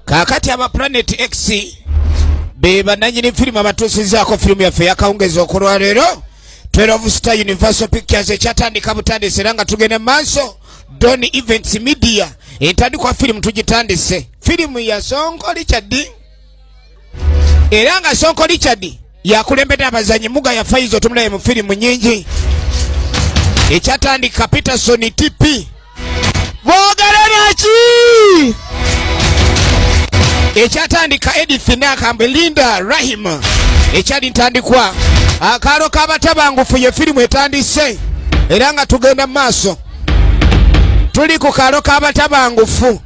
kakati aba planet x be bananyini firimu abatuusizaako firimu yaffe yakawungeza okulwaleero 12 star universal pictures ekyatandika butandise era nga tugenda mu maaso don events media entandikwa firimu tugitandise firimu yasonkoli kyaddi era nga sonko richard yakulembedde abazanyi muga ya faizo tumulaye mu firimu nyingi ekyatandika peterson tp bogera naki ekyatandika edith nakambe linda rahim ekyali ntandikwa akaalo kabatabangufu ye firimu etandise era nga tugenda mu maaso tuli ku kaalo kabatabangufu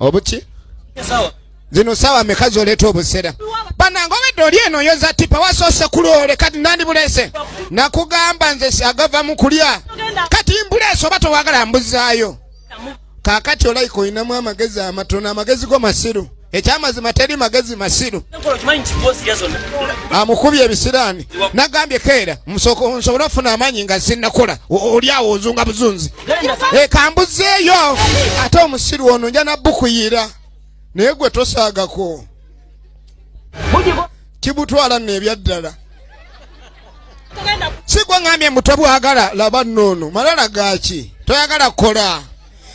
obuki zino sawa meka zoleta obusera banange obedde oli eno yoza tipa wasoose kulwole kati nandibulese nakugamba nze agava mu kulya kati mbulese oba towagala mbuzaayo kakati olayika olinamu amagezi amatono amagezi go masiru ekyamazima teri magezi masiru amukubye ebisiraani nagambye keera nsobole okufuna amaanyi nga sinakula oli awo ozunga buzunzi ekambuzeeyo eh, ate omusiru ono nja nabukuyira naye gwe tosaagako kibutwala nno ebyaddala sigwangambye muto bwagala laba noono malala gaki toyagala kukola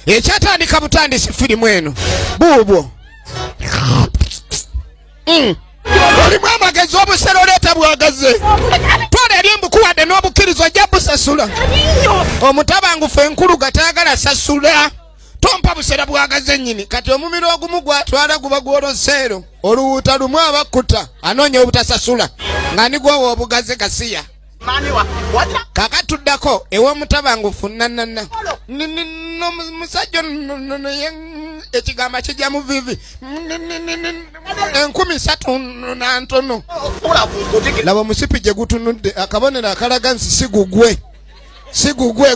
ekyatandika butandisi firimu eno buubwo mm. olimu amagezi obusera oleeta bwagaze tola eri mbukuwadde n'obukkiriza ojja busasula omutabangufu enkulu gatayagala sasula tompa busera bwagaze nyini kati omumiro ogumu gwatwala guba gwoloseero oluwuuta lumu abakkuta anoonya obutasasula nga nigwowa obugaze gasiya kaka tuddako ewomutabangufu nanana nomusajja naye ekigambo kijja mu vivi enkumi satu nantono laba omusipi gye gutunudde akabonero akalaga nsi sigugwe sigugwe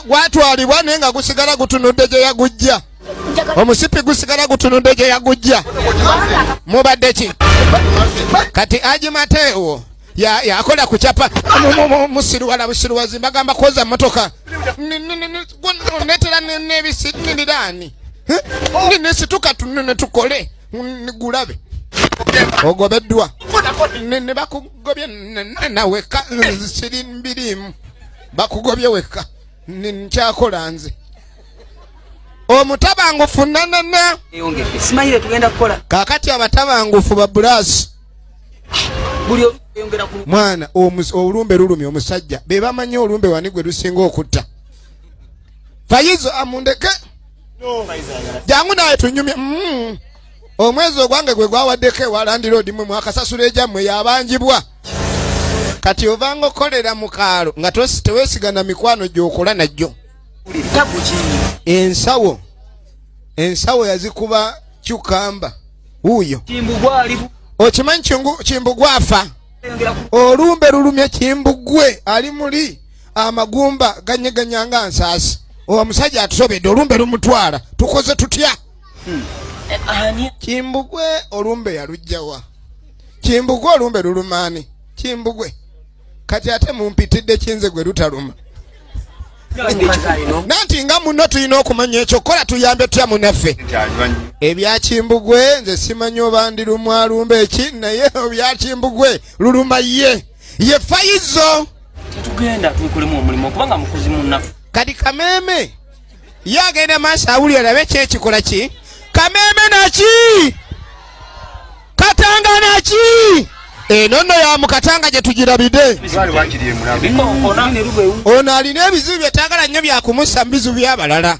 gwatwalibwa naye nga gusigala gutunudde gye yagujja omusipi gusigala gutunudde gye yagujja mubadde ki kati agimateewo ya ya akola ku chapa musiru wala musiru wazimba gamba koza motoka netera ne bisi ni dani ni ne situka tunene tukole ni gulabe ogobedwa ne ne bakugobye na weka siri mbirimu bakugobye weka ni nchakola nze omutabangufu nanana kakati abatabangufu babulasi mwana olumbe lulumi omusajja bebamanyi olumbe wani gwe lusinga okutta fayizo amundeke jangu naye tunyumye mm. omwezi ogwange gwe gwawaddeko ewalandiroodi mwe mwakasasula egyammwe yabanjibwa kati ovanga okukolera mu kaalo nga tewesigana mikwano gyokola najjo ensawo ensawo yazikuba kyukamba wuuyo okimanyi kimbugwa afa olumbe lulumye kimbugwe ali muli amagumba ganyeganya nga nsaasi owa musajja atusobedde olumbe lumutwala tukoze tutya hmm. eh, kimbugwe olumbe yalujjawa kimbugwe olumbe lulumaani kimbugwe kati ate mumpitidde kinze gwe lutaluma nanti nga muno tulina okumanya ekyo kola tuyambe tutya munaffe ebyakimbugwe nze simanyi oba ndi lumwalumba eki naye ebyakimbugwe luluma ye ye fayizo kati kameme ye agenda maaso awulira labe ki ekikola ki kameeme naki katanga naki eno nno ya mukatanga gye tugirabide ono alina ebizibu byetagala nnyo byakumusa mu bizibu byabalala